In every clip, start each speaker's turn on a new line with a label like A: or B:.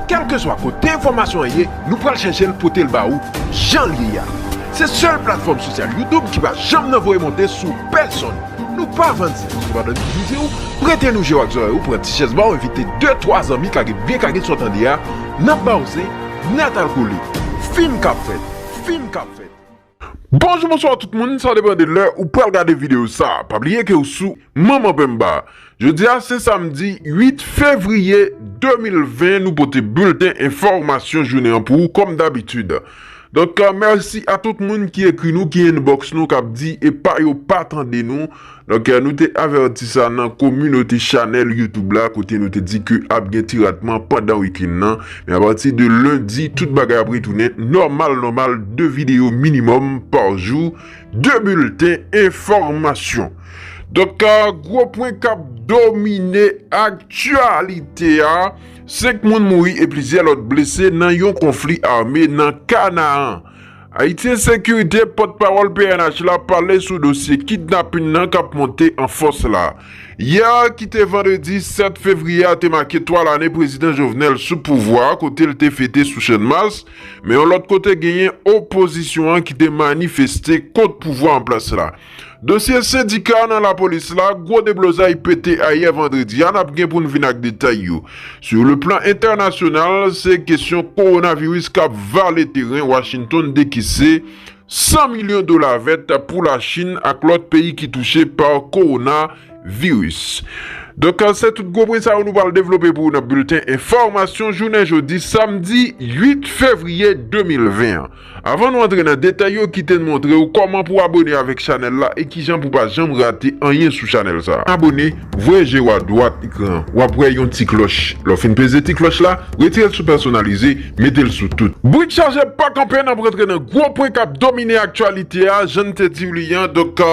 A: Kèlkeswa kote enfòmasyon an ye, nou pral chèche l pote l ba ou jan l ye a. Se sèl platfòm sosyal YouTube ki pa janm nan voye monte sou pèsonn. Nou pa vann zin kote pa nan divize ou, prete nou je w ak zòrèy ou, pran ti chèz ba w envite de twa zanmi kage byen kage sa w tande a, n ap ba w zen natalkole. Fim k ap fèt! Fim k ap fèt! Bonjou bonswa tout moun sa depan de lè ou pral gade video sa pa bliye ke ou sou manman penmba jodia se samdi 8 fevriye 2020 nou pote bilten enfòmasyon jounen an pou ou kòm dabitid donk mèsi a tout moun ki ekri nou ki inbox nou kap di epa yo pa tande nou. Donk nou te avèti sa nan kominote chanèl youtube la kote nou te di ke ap gen ti ratman pandan week-end nan men apati de lendi tout bagay ap retounen nòmal nòmal 2 videyo minimòm par jou 2 bilten enfòmasyon Donk gwo pwen kap domine aktyalite a 5 moun mouri e plizyè lòt blese nan yon konfli ame nan Kanaan. Haitiensécurité, pòt pawòl pnh la pale sou dosye kidnapin nan k ap monte an fòs la. Yè a ki te vandredi 7 fevriye a te make 3 lane prezidan Jovenel sou pouvwa a kote l te fete sou Channmas, men yon lòt kote genyen opozisyon an ki te manifeste kont pouvwa an plas la. Dosye sendika nan lapolis la, gwo deblozay pete ayè vandredi a, nap gen pou n vin ak detay yo. Sou le plan entènasyonal, se kesyon kowonaviris kap vale teren, Washington dekese 100 milyon dola vèt pou la Chin ak lòt peyi ki touche pa kowona viris. Donk se tout gwo pwen sa yo nou pral devlope pou ou nan bilten enfòmasyon jounen jodi samdi 8 fevriye 2020 an. Avan nou antre nan detay yo kite n montre w kòman pou abone avèk chanèl la e kijan pou pa janm rate anyen sou chanèl sa. Abone, voye je w a dwat ekran an wap wè yon ti klòch lè w fin peze ti klòch la retire l sou pèsonalize mete l sou tout. Brik chaje pa kanpe nap rantre nan gwo pwen kap domine aktyalite a jan n te di w li an donk.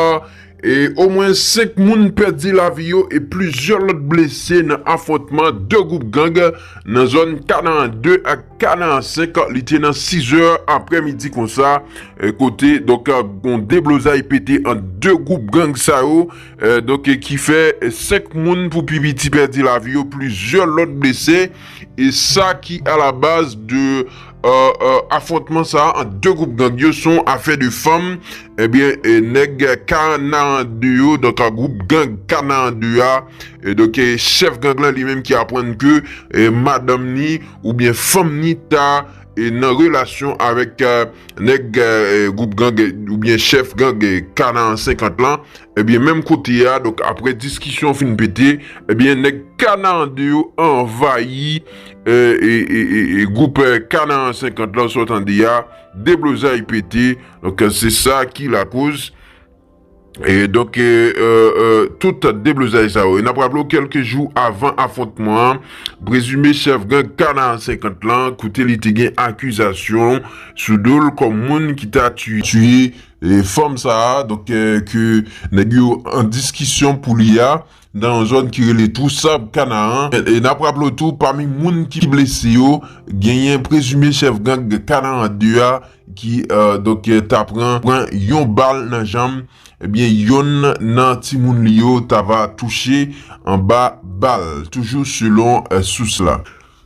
A: E omwen 5 moun pèdi lavi yo e plizyè lòt blese nan afwontman 2 gwoup gang nan zòn Kanaan 2 ak Kanaan 5 li te nan 6 zè aprè midi konsa kote donk yon deblozay pete ant 2 gwoup gang sa yo donk ki fè 5 moun pou pi piti pèdi lavi yo plizyè lòt blese e sa ki alabaz de Afwontman sa a ant 2 gwoup gang yo son afè de fanm, ebyen nèg Kanaran 2 yo, donk a gwoup gang Kanaran 2 a, donk chèf gang lan li menm ki aprann ke madanm ni oubyen fanm ni ta nan relasyon avèk nèg gwoup gang oubyen chèf gang Kanaran 50 lan, ebyen menm kote a, donk aprè diskisyon fin pete, ebyen nèg Kanaran 2 yo anvayi. E gwoup Canaan 50 lan sa w tande a, deblozay pete, donk se sa ki lakoz, e donk tout deblozay sa yo. E n ap raple w kèlke jou avan afwontman an, prezime chèf gang Canaan 50 lan, kote li te gen akizasyon sou do l kòm moun ki ta tiye fanm sa a, donk ke nèg yo an diskisyon pou li a, nan yon zòn ki rele Twou Sab Kanaan, e n ap raple w tou pami moun ki blese yo genyen prezime chèf gang Kanaan 2 a ki donk ta pran yon bal nan janm, ebyen yonn nan timoun li yo ta va touche anba bal, toujou selon sous la.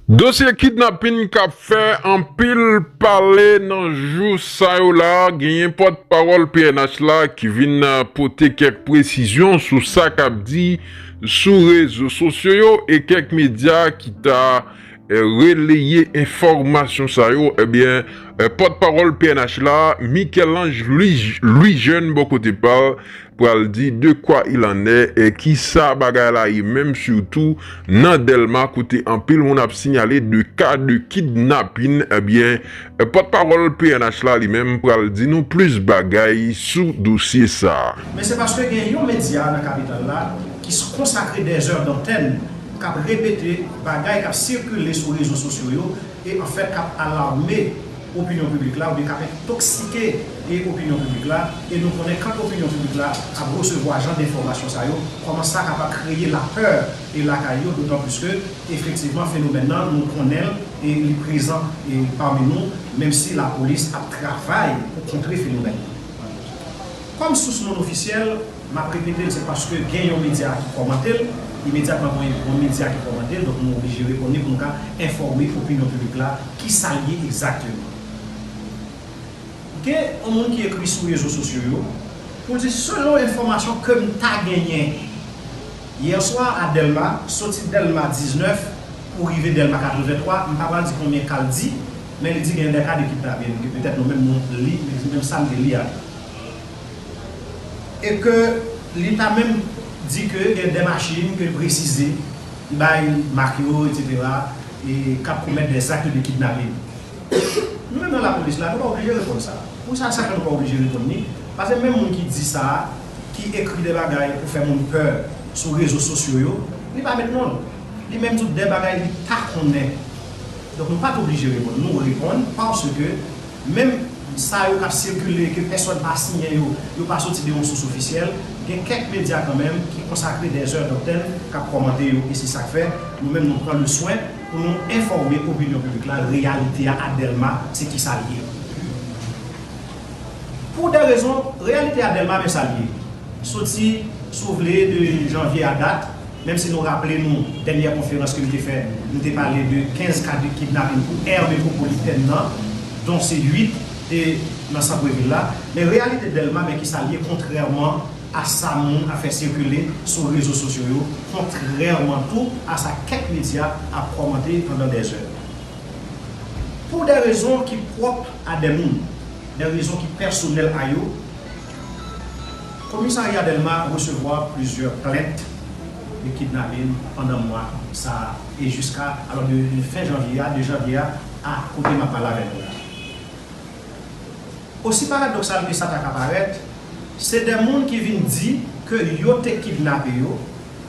A: Dosye kidnapin kap fè anpil pale nan jou sa yo la, genyen pòt pawòl pnh la ki vin pote kèk presizyon sou sa kap di sou rezo sosyo yo e kèk medya ki ta releye enfòmasyon sa yo ebyen pòt pawòl pnh la Michel-Ange Louis-Jeune bò kote pal pral di de kwa il an è e ki sa bagay la ye menm sitou nan Dèlma kote anpil moun ap sinyale de ka de kidnapin ebyen pòt pawòl pnh la li menm pral di nou plis bagay sou dosye sa. Men se paske gen
B: yon medya nan kapital la ki konsakre dèzèr dantèn kap repete bagay kap sikile sou rezo sosyo yo e an fèt kap alarme opinyon piblik la oubyen kap entoksike e opinyon piblik la e nou konnen kan opinyon piblik la ap resevwa jan denfòmasyon sa yo kòman sa kapab kreye lapè e lakay yo dotan plis ke efektivman fenomèn nan nou konnenl e li prezan e pami nou menm si lapolis ap travay pou kontre fenomèn nan kòm sous non ofisyèl. Map repetel se paske gen yon medya ki kòmantel, imedyatman mwen yon medya ki kòmantel donk mwen oblije reponn li pou m ka enfòme opinyon piblik la kisa l ye egzakteman. Gen yon moun ki ekri sou rezo sosyo yo pou l di selon enfòmasyon ke m ta genyen yè swa a Dèlma, soti Dèlma 19 pou rive Dèlma 83, m pa pral di konbyen ka l di men li di gen dè ka de kidnape, petèt nou menm nou li men li di men sa m te li a. e ke li ta menm di ke gen de machin ke l presize li bay mak yo etc e k ap komèt de zakt de kidnapin. Nou menm nan lapolis la nou pa oblije reponn sa. Pou sa sa fè nou pa oblije reponn ni? Pase menm moun ki di sa, ki ekri de bagay pou fè moun pè sou rezo sosyo yo, li pa met non l. Li menm di w de bagay li pa konnen. Donk nou pa t oblije reponn. Nou reponn paske. Menm sa yo k ap sikile e ke pèsòn pa siyen yo, yo pa soti de yon sous ofisyèl. Gen kèk medya kanmenm ki konsakre dè zè dantèn k ap kòmante yo e se sa k fè nou menm nou pran leswen pou nou enfòme opinyon piblik la reyalite a a Dèlma se ki sa l ye. Pou dè rezon, reyalite a Dèlma men sa l ye, soti si w vle de janvye a dat, Menm si nou raple nou dènyè konferans ke m te fè, m te pale de 15 ka kidnapin pou aire metropolitèn nan, don se 8 te nan santrevil la, men reyalite Dèlma men kisa l ye kontrèman a sa moun ap fè sikile sou rezo sosyo yo, kontrèman tou a sa kèk medya ap kòmante pandan dè zè. Pou dè rezon ki pwòp a dè moun, dè rezon ki pèsonèl a yo, Komisarya Dèlma resevwa plizyè plent de kidnapin pandan mwa sa a e jiska alò de fen janvye a, 2 janvye a, a kote m ap pale avè nou la. Osi paradoksal ke sa ta ka parèt, se de moun ki vin di ke yo te kidnape yo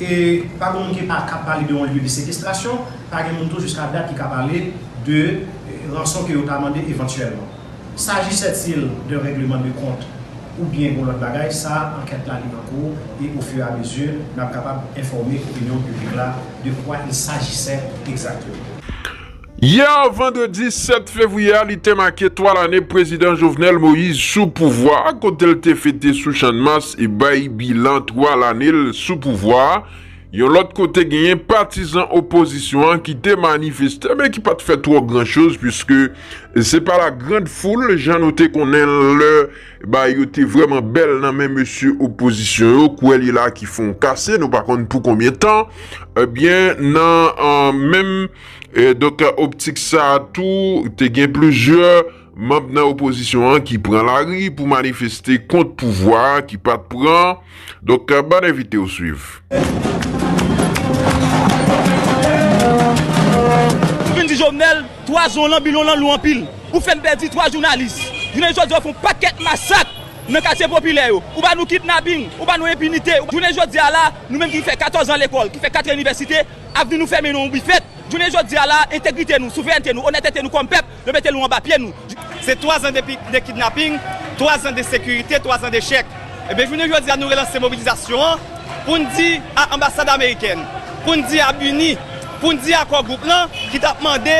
B: E pa gen moun ki pa kab pale de yon lye de sekestrasyon, pa gen moun tou jiska dat ki ka pale de ranson ke yo ta mande evantyèlman. Sajisè-t-il d'un règlement de compte ou byen yon lòt bagay, sa ankèt la li nan kou e au fur et à mesure nap kapab enfòme opinyon piblik la de quoi il s'agissait exactement.
A: Yè vandredi 7 fevriye a li te make 3 lane prezidan Jovenel Moïse sou pouvwa a kote l te fete sou Channmas e bay bilan 3 lane l sou pouvwa a. Yon lòt kote genyen patizan opozisyon an ki te manifeste men ki pa t fè twò gran choz puiske se pa la grand foul jan nou te konnen l lè bagay yo te vrèman bèl nan men mesye opozisyon yo kwè li la ki fon kase nou pa konn pou konbyen tan ebyen nan menm Donk optik sa a tou, te gen plizyè manb nan opozisyon an ki pran lari pou manifeste kont pouvwa ki pa t pran. Donk bann envite w swiv.
C: Ou vin di Jovenel 3 zon lan bilon lan lou anpil. Ou fèn pèdi 3 jounalis. Jounen jodi a ou fè yon pakèt masak nan katye popilè yo. Ou ba nou kidnapping, ou ba nou enpinite. Jounen jodi a la, nou menm ki fè 14 an lekòl, ki fè 4 an inivèsite, Avni nou fèmen nan yon bifèt. Jounen jodi a la, entegrite nou, souverènte nou, onètete nou kòm pèp, yo mete nou anba pye nou. Se twazan de kidnaping, twazan de sekirite, twazan de chèk. Ebyen jounen jodi a nou relanse mobilizasyon an pou n di a anbasad amerikèn, pou n di a BINUH, pou n di a Kò Gwoup lan ki t ap mande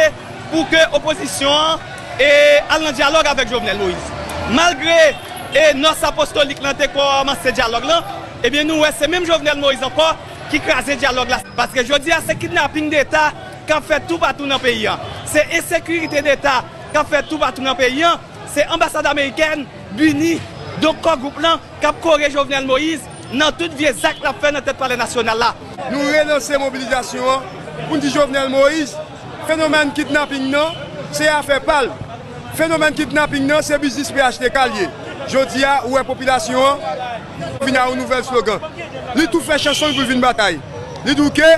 C: pou ke opozisyon an al nan dyalòg avèk Jovenel Moïse. Malgre Nòs Apostolik lan te kòmanse dyalòg lan, ebyen nou wè se menm Jovenel Moïse ankò ki kraze dyalòg la paske jodi a se kidnaping deta k ap fèt toupatou nan peyi an, se ensekirite deta k ap fèt toupatou nan peyi an, se anbasad amerikèn, bini, donk Kò Gwoup lan k ap kore Jovenel Moïse nan tout vye zak l ap fè nan tèt palè nasyonal la. Nou relanse
D: mobilizasyon an pou n di Jovenel Moïse Fenomèn kidnaping nan se afè pa l. Fenomèn kidnaping nan se biznis phtk l ye. Jodi a, ou wè popilasyon an vin a yon nouvèl slogan. Li tou fè chanson l pou l vin batay. Li di w ke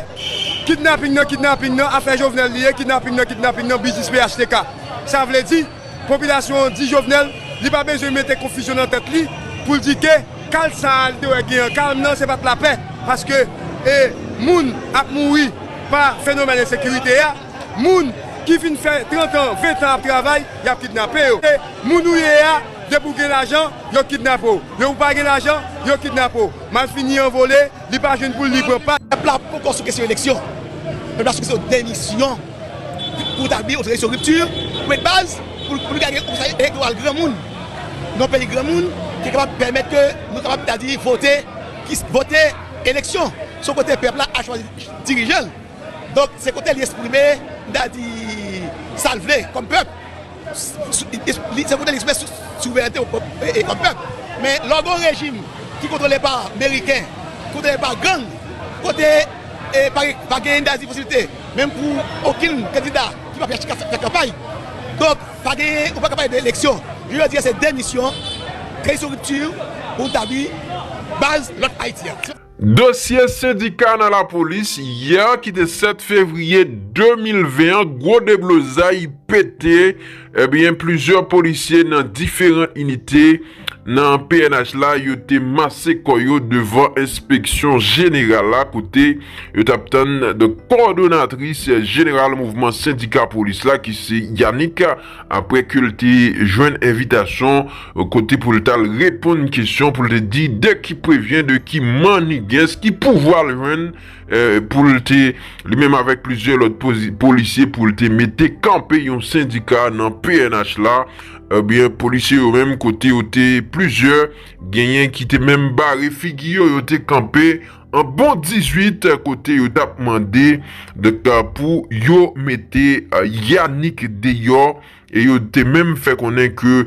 D: kidnaping nan kidnaping nan afè Jovenel li ye, kidnaping nan kidnaping nan biznis phtk. Sa vle di. Popilasyon an di Jovenel li pa bezwen mete konfizyon nan tèt li pou l di ke kal sa a li te wè gen an Carm nan se pa t lapè paske e moun ap mouri pa fenomèn ensekirite a, moun ki fin fè 30 an, 20 an ap travay y ap kidnape yo. E moun ou ye a depi w gen lajan yo kidnape w, depi w pa gen lajan yo kidnape w, malfini an vole. Li pa jwenn poul li pran pa. Pèp la poko sou kesyon
E: eleksyon. Pèp la sou kesyon demisyon. Pou tabli yon tranzisyon ripti, pwen de baz, pou nou ka gen yon konsèy elektoral granmoun. Yon peyi granmoun ki kapab pèmèt ke nou kapab ta di vote, vote eleksyon. Son kote pèp la ap chwazi dirijan l. Donk se kote li esprime, m ta di, sa l vle kòm pèp. Se pou te li sou souvènte yon pèp e kòm pèp. Men lè w gen yon rejim ki kontwole pa meriken, kontwole pa gang, kote pa gen endayiti posiblite menm pou okenn kandida ki pa chita fè kanpay. Donk pa gen, ou pa ka pale de eleksyon. Jounen jodi a se demisyon, reyisi ripti pou nou tabli baz lòt Ayiti a. Dosye
A: sendika nan lapolis, yè ki te 7 fevriye 2020 an gwo deblozay pete ebyen plizyè polisye nan diferan inite nan pnh la yo te mase kò yo devan enspeksyon jeneral la kote yo t ap tann kòdonatris jeneral mouvman sendika polis la ki se Yanick Aprè ke l te jwenn envitasyon kote pou l t al reponn kesyon pou l te di de ki prevyen, de ki mannigens, ki pouvwa l jwenn pou l te, li menm avèk plizyè lòt polisye pou l te mete kanpe yon sendika nan pnh la, ebyen polisye yo menm kote yo te plizyè, genyen ki te menm bare figi yo, yo te kanpe. An bon 18 kote yo tap mande pou yo mete Yanick deyò e yo te menm fè konnen ke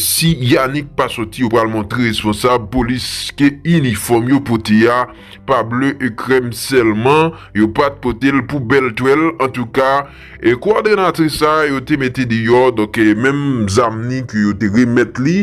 A: si Yanick pa soti yo pral montre responsab polis ke inifòm yo pote a pa ble e krèm sèlman yo pat pote l pou bèl twèl antouka kwadrenatris sa yo te mete deyò donk menm zam ni ke yo te remèt li.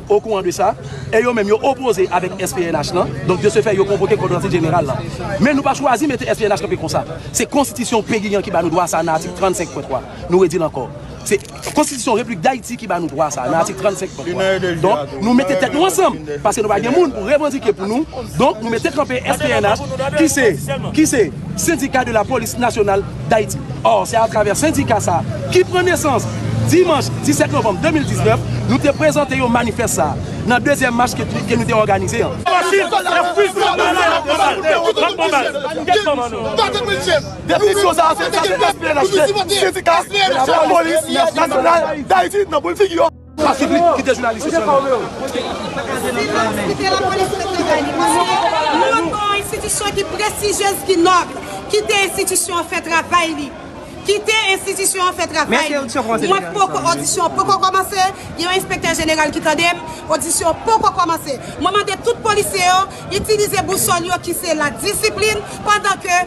F: okouran de sa, e yo menm yo opoze avèk SPNH lan, donk de se fè yo konvoke Konferanse Jeneral lan. Men nou pa chwazi mete SPNH kanpe konsa. Se Konstitisyon peyi an ki ba nou dwa sa nan atik 35 pwen 3. Nou redi l ankò. Se Konstitisyon Repiblik Dayiti ki ba nou dwa sa nan atik 35 pwen 3. Donk, nou mete tèt nou ansanm, paske nou pa gen moun pou revandike pou nou, donk nou mete kanpe SPNH ki se, ki se. Syndicat de la Police Nationale d'Haïti. Or, se atravè sendika sa a, ki pran nesans dimanch 17 novanm 2019, nou te prezante yo manifès sa a, nan dezyèm mach ke nou te òganize an. Definisyon sa a se sa, se espionaj ke sendika de la Police Nationale d'Haïti nan boul figi yo. Patrick li kite jounalis yo
G: selman. Silans kite lapolis fè travay li mesye. Nou ap pran yon enstitisyon ki prestijyez, ki nòb. Kite enstitisyon an fè travay li. Kite enstitisyon an fè travay li. Mwen poko odisyon an poko kòmanse, gen yon enspektè jeneral ki tande m, odisyon an poko kòmanse. Mwen mande tout polisye yo itilize bousòl yo ki se la disiplin pandan ke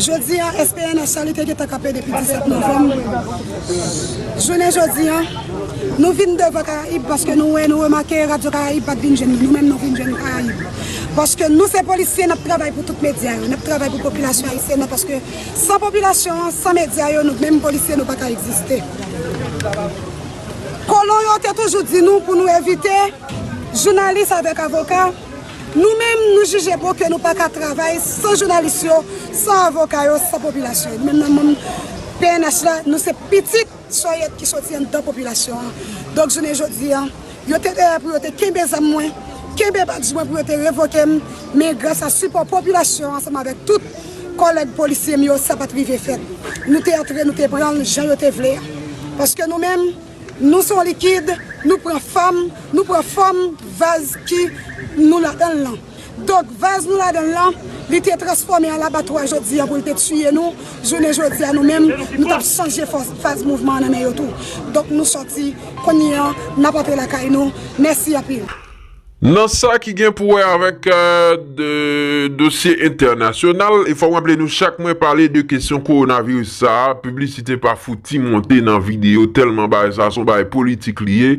G: Jodi a, SPNH sa li te gentan kanpe depi 17 novanm, jounen jodi a, nou vin devan Karayib paske nou wè, nou remake Radyo Karayib pat vin jwenn nou, nou menm nou vin jwenn Karayib. Paske nou se polisye, n ap travay pou tout medya yo, n ap travay pou popilasyon ayisyèn nan paske san popilasyon an, san medya yo, nou menm polisye nou pa ka egziste. Kolon yo te toujou di nou pou nou evite jounalis avèk avoka. Nou menm nou jije bon ke nou pa ka travay san jounalis yo, san avoka yo, san popilasyon yo. Nou menm nan manm pnh la, nou se pitit sòyèt ki soti anndan popilasyon an. Donk jounen jodi a, yo te dèyè pou yo te kenbe zam mwen, kenbe badj mwen pou yo te revoke m, men gras a sipò popilasyon ansanm avèk tout kòlèg polisye m yo, sa pa t rive fèt. Nou te antre, nou te pran l jan yo te vle a. Paske nou menm. Nou son likid, nou pran fòm, nou pran fòm vaz ki nou ladan l lan. Donk, vaz nou ladan l lan, li te transfòme an labatwa jodi a pou l te tiye nou, jounen jodi a nou menm, nou t ap chanje faz mouvman an nan men yo tou. Donk, nou sòti, kounye a, n ap antre lakay nou. Mèsi anpil. Nan sa
A: ki gen pou wè avèk dosye entènasyonal, e fò m raple nou chak mwen pale de kesyon kowonaviris sa, piblisite pa fouti monte nan videyo tèlman bagay sa se yon bagay politik li ye,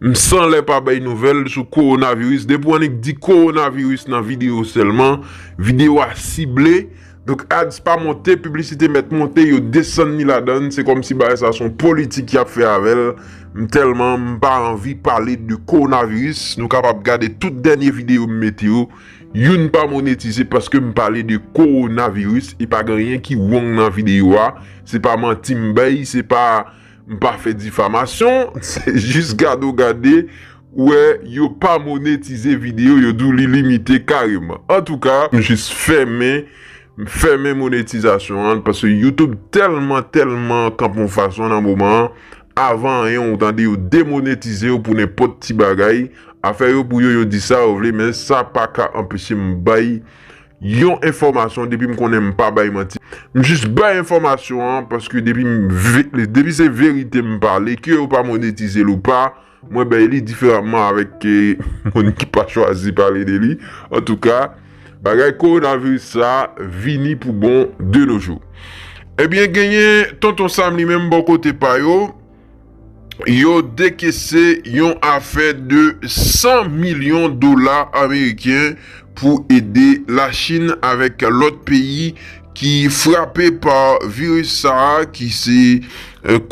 A: m san lè pa bay nouvèl sou kowonaviris, depi w annik di kowonaviris nan videyo sèlman, videyo a sible. Donk ads pa monte, piblisite mèt monte, yo desann ni ladann, se kòmsi bagay sa son politik yap fè avèl, m tèlman m pa anvi pale de kowonaviris, nou kapab gade tout dènye videyo m mete yo, youn pa monetize paske m pale de kowonaviris e pa gen anyen ki wong nan videyo a, se pa manti m bay, se pa M pa fè difamasyon, se jis gade w gade wè yo pa monetize video yo di w li limite kareman. Antouka m jis fèmen m fèmen monetizasyon an paske YouTube tèlman tèlman kanpe yon fason nan moman an, avan anyen w tande yo demonetize w pou nenpòt ti bagay, afè yo pou yo yo di sa yo vle men sa paka anpeche m bay Yon enfòmasyon depi m konnen m pa bay manti m jis bay enfòmasyon an paske depi m depi se verite m pale ke yo pa monetize l ou pa mwen bay li diferanman avèk ke moun ki pa chwazi pale de li antouka bagay kowonaviris sa vini pou bon de no jou ebyen genyen tonton Sam li menm bò kote pa yo. yo dekese yon afè de 100 milyon dola ameriken pou ede Lachin avèk lòt peyi ki frape pa viris sa a ki se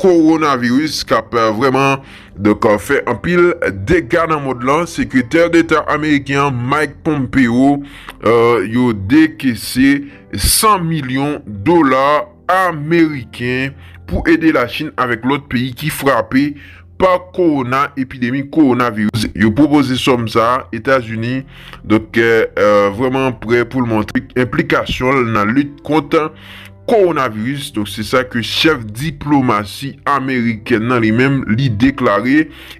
A: kowonaviris k ap vrèman donk fè anpil dega nan mond lan. Sekretè Deta ameriken an Mike Pompeo yo dekese 100 milyon dola. ameriken pou ede Lachin avèk lòt peyi ki frape pa kowona epidemi kowonaviris yo pwopoze sòm sa a Etazini donk vrèman prè pou l montre enplikasyon l nan lit kont kowonaviris donk se sa ke chèf diplomasi amerikèn nan li menm li deklare.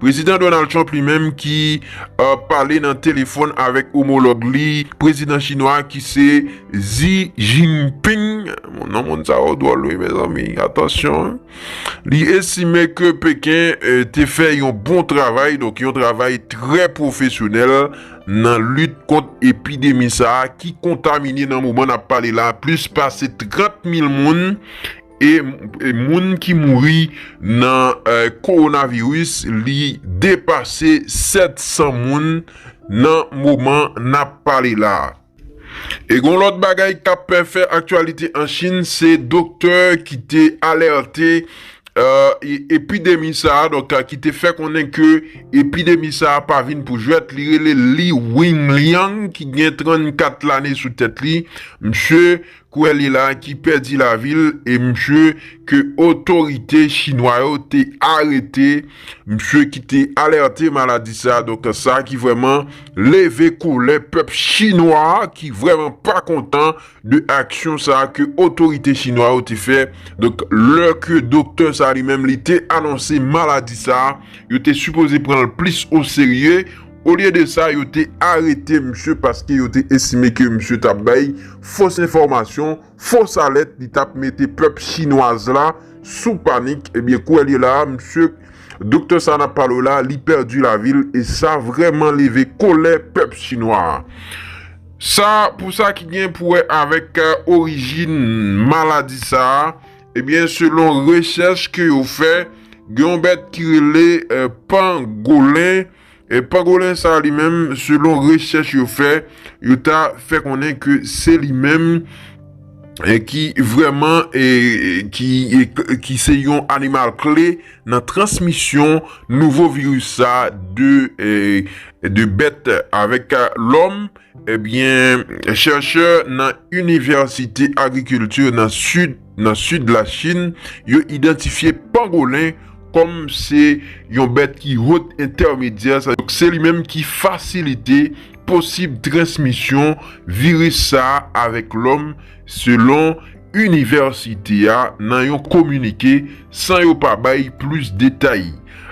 A: Prezidan Donald Trump li menm ki pale nan telefòn avèk omològ li prezidan chinwa a ki se Xi Jinping, non moun sa yo dwòl wi mezanmi atansyon, li estime ke Peken te fè yon bon travay, donk yon travay trè pwofesyonèl nan lit kont epidemi sa a ki kontamine nan moman n ap pale la plis pase 30 mil moun. E moun ki mouri nan kowonaviris li depase 700 moun nan moman n ap pale la. E gon lòt bagay k ap fè aktyalite an Chin se doktè ki te alète epidemi sa a donk ki te fè konnen ke epidemi sa a pa vin pou jwèt li rele Li Wenliang ki gen 34 lane sou tèt li. Msye Kwè li la ki pèdi lavi l e misye ke otorite chinwa yo te arete, misye ki te alète maladi sa, donk sa ki vrèman leve kolè pèp chinwa ki vrèman pa kontan de aksyon sa ke otorite chinwa yo te fè, donk lè ke doktè sa li menm li te anonse maladi sa, yo te sipoze pran l plis oserye. Olye de sa, yo te arete misye paske yo te estime ke misye t ap bay fos enfòmasyon, fos alèt, li t ap mete pèp chinwaz la sou panik. Ebyen kouwèlye la a, misye doktè sa a n ap pale w la, li pèdi lavi l e sa vrèman leve kolè pèp chinwa a. Sa pou sa ki gen pou wè avèk orijin maladi sa a, ebyen selon rechèch ke yo fè, gen yon bèt ki rele Pangolen, E Pangolin sa a li menm, selon rechèch yo fè, yo ta fè konnen ke se li menm ki vrèman ki se yon animal kle nan transmisyon nouvo viris sa a de bèt avèk lòm, ebyen chèrchè nan Inivèsite Agrikilti nan Sid. Nan sid Lachin, yo idantifye pangolen kòm se yon bèt ki hot entèmedyè, sa donk se li menm ki fasilite posib transmisyon viris sa a avèk lòm, selon inivèsite a nan yon kominike, san yo pa bay plis detay.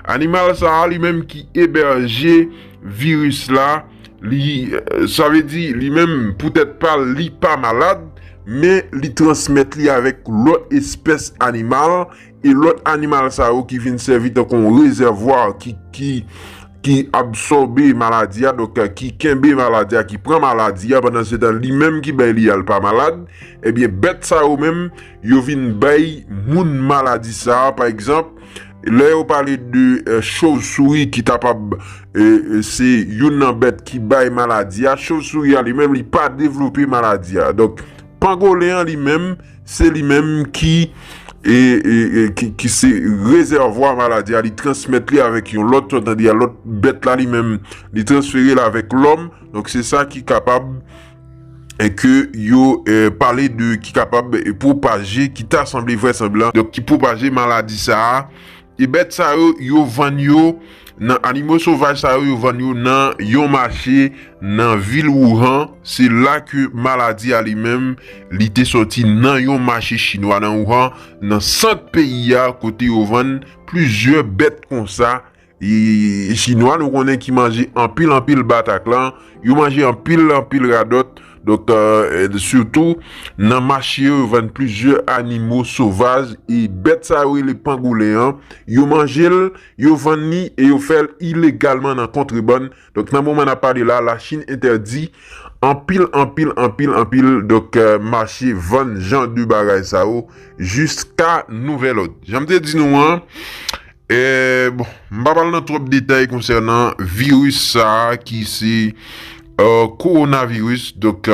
A: Animal sa a li menm ki ebèje viris la, Li, sa vle di li menm pou tèt pa l li pa malad, men li transmèt li avèk lòt espès animal e lòt animal sa yo ki vin sèvi tankou yon rezèvwa ki, ki, ki absòbe maladi a, donk ki kenbe maladi a, ki pran maladi a, pandansetan li menm ki bay li a l pa malad, ebyen bèt sa yo menm yo vin bay moun maladi sa a, pa egzanp. Lè yo pale de chovsouri ki kapab se youn nan bèt ki bay maladi a, chovsouri a li menm li pa devlope maladi a. Donk, pangolen an li menm, se li menm ki se rezèvwa maladi a, li transmèt li avèk yon lòt, sòtandya lòt bèt la li menm li transfere l avèk lòm, donk se sa ki kapab. ke yo pale de ki kapab pwopaje, ki ta sanble vrèsanblan, donk ki pwopaje maladi sa a, e bèt sa yo, yo vann yo nan animo sovaj sa yo, yo vann yo nan yon mache nan vil Wuhan, se la ke maladi a li menm, li te sòti nan yon mache chinwa nan Wuhan, nan sant peyi a, kote yo vann plizyè bèt konsa, Chinwa nou konnen ki manje anpil anpil bataklan, yo manje anpil anpil radòt, donk sitou nan mache yo yo vann plizyè animo sovaj e bèt sa yo rele pangolen an yo manje l, yo vann li e yo fè l ilegalman nan kontrebann. Donk nan moman nap pale la, la Chine entèdi anpil anpil anpil anpil donk mache vann jan de bagay sa yo jiska nouvèl òd. Janm te di nou an, bon m pa pral nan twòp detay konsènan viris sa ki se Coronavirus donk.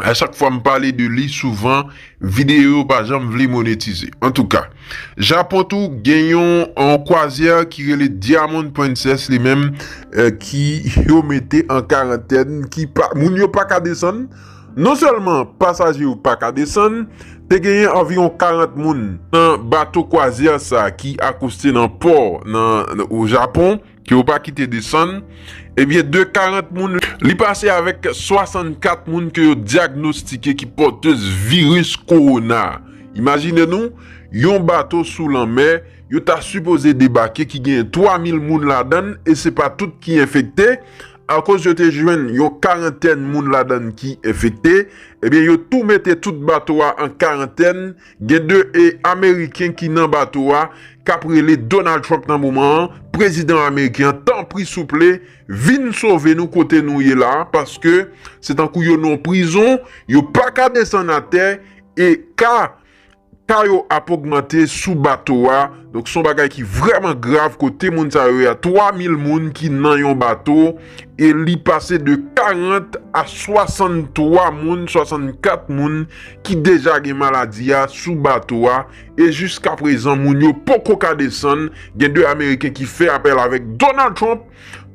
A: A chak fwa m pale de li souvan videyo yo pa janm vle monetize. Antouka, Japon tou gen yon kwazyè ki rele Diamond Princess li menm ki yo mete an karantèn ki moun yo pa ka desann. Non sèlman pasaje yo pa ka desann, te genyen anviwon 40 moun nan bato kwazyè sa ki akoste nan pò nan o Japon. ke yo pa kite desann, ebyen de 40 moun, li pase avèk 64 moun ke yo dyagnostike ki pòtez viris kowona. Imajine nou, yon bato sou lanmè, yo ta sipoze debake ki genyen 3 mil moun ladann e se pa tout ki enfekte, akoz yo te jwenn yon karantèn moun ladann ki enfekte, ebyen yo tou mete tout bato a an karantèn, Gen 2 e ameriken ki nan bato a kap rele Donald Trump nan moman an, prezidan ameriken an tanpri souple vin sove nou kote nou ye la paske se tankou yo nan yon prizon yo paka desann atè e ka ka yo ap ogmante sou bato a donk son bagay ki vrèman grav kote moun sa yo ye a 3 mil moun ki nan yon bato e li pase de 40 a 63 moun, 64 moun ki deja gen maladi a sou bato a e jiskaprezan moun yo poko ka desann, gen 2 ameriken ki fè apèl avèk Donald Trump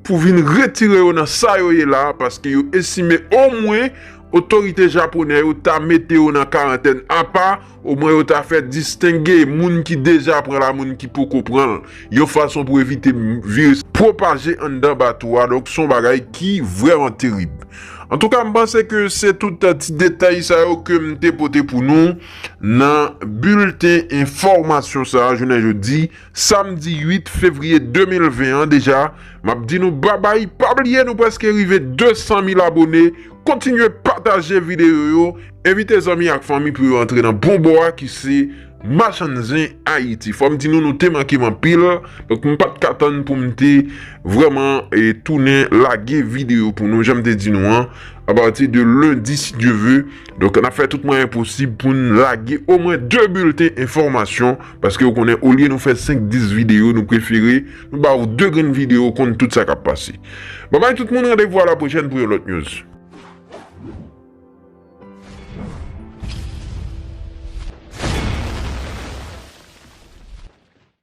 A: pou vin retire yo nan sa yo ye la paske yo estime omwen otorite japonè yo ta mete yo nan karantèn apa Omwen yo ta fè distenge moun ki deja pran l a moun ki poko pran l, yon fason pou evite viris pwopaje anndan bato a, donk se yon bagay ki vrèman terib. Antouka m panse ke se tout ti detay sa yo ke m te pote pou nou nan bilten enfòmasyon sa jounen jodi. Samdi 8 fevriye 2020 an deja map di nou babay pa bliye nou preske rive 200 mil abone kontinye pataje videyo yo envite zanmi ak fanmi pou yo antre nan bon bò a ki se machann zen ayiti fòm di nou nou te mankem anpil donk m pat ka tann poum te vrèman tounen lage videyo pou nou janm te di nou an apati de lendi si Dye ve donk nap fè tout mwayen posib poun lage omwen 2 bilten enfòmasyon Paske ou konnen olye nou fè 5 10 video nou prefere nou ba ou 2 grenn video konn tout sa kap pase. Babay tout moun randevou a la pwochèn pou yon lòt news.